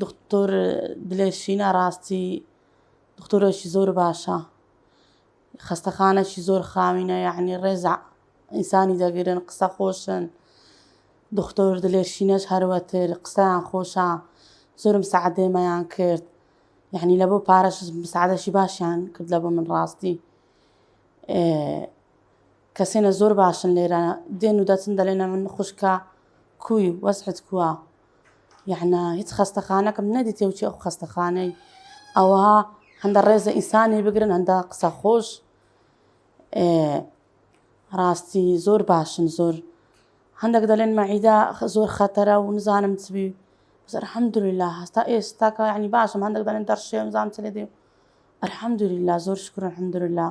دختر دلێرشینە ڕاستی دختورێکی زۆر باشە خەستەخانەکی زۆر خاوینە یعنی ڕێزە ئینسانی دەگرن قسە خۆشن دختر دلێرشینەش هەروەتر قسەیان خۆشە زۆرم سەعدێمەیان کرد یعنی لە بۆ پارەش سعادەشی باشیان کرد لە بۆ من ڕاستی کەسێنە زۆر باشن لێرە دێن و دەچن دەلێنە من خوشکە کوی وەزحت کووە یعنە هیچ خەستەخانەکەم نەدیتێ و چی ئەو خەستەخانەی ئەوە هەندە ڕێزە ئینسانی بگرن هەندە قسە خۆش ڕاستی زۆر باشن زۆر هەندێک دەلێن مەعیدا زۆر خەتەرە و نزانم چبی بەسەر حەمدولا هەستا ئێستاکە ینی باشم هەندێک دەلێن دەرشێم زانام چ لێ دێ ئەرحەمدولا زۆر شکرن حەمدولا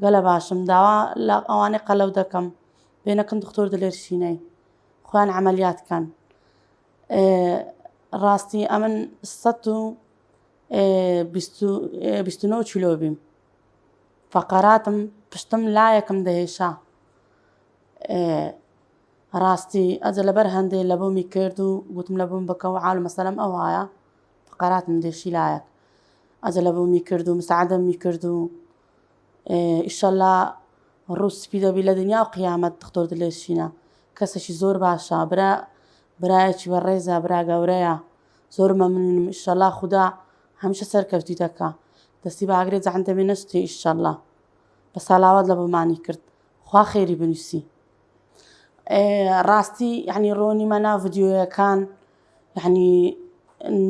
گەلە باشم داوا لە ئەوانەی قەلەو دەکەم بێنەکن دکتۆر دلێر شینای خۆیان عملیات کەن ڕاستی ئەمن سە و بیستنەوە چلۆ بیم فقراتم پشتم لایەکم دەهێشا ڕاستی ئەجە لەبەر هەندێ لە بۆمی کرد و گوتم لە بووم بکە و عاال مەسەلم ئەو وایە فقراتم دێشی لایەک ئەجە لە بۆمی کرد و مساعدەمی کرد و ئیشەلا ڕوو سپی دەبی لە دنیا و قیامەت دختۆر دلێ شینە کەسێکی زۆر باشە برا برایەکی بە ڕێزە برا گەورەیە زۆر مەمنونم ئیشەلا خودا هەمیشە سەرکەوتی دەکا دەستی باگرێ جەهەندەمی نەستی ئیشەلا بە ساڵاوات لە بۆمانی کرد خوا خێری بنووسی ڕاستی یعنی ڕۆنی مەنا ڤیدیۆیەکان یەعنی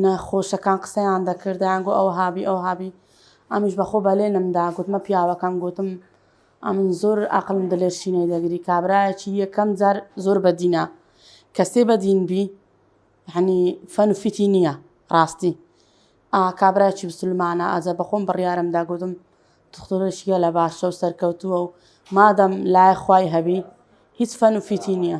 نەخۆشەکان قسەیان دەکرد دەیانگۆ ئەوها بی ئەوها بی ئەمیش بەخۆ بەلێنم دا گوتمە پیاوەکەم گوتم ئەمن زۆر ئەقڵم دلێ شینەی دەگری کابرایەکی یەکەم جار زۆر بەدینە کەسێ بەدین بی یەعنی فەن و فیتی نییە ڕاستی ئا کابرایەکی بسلمانە ئەجە بەخۆم بڕیارم دا گوتم دختورێکی گەلە باشە و سەرکەوتووە و مادەم لای خوای هەبی هیچ فەن و فیتی نییە.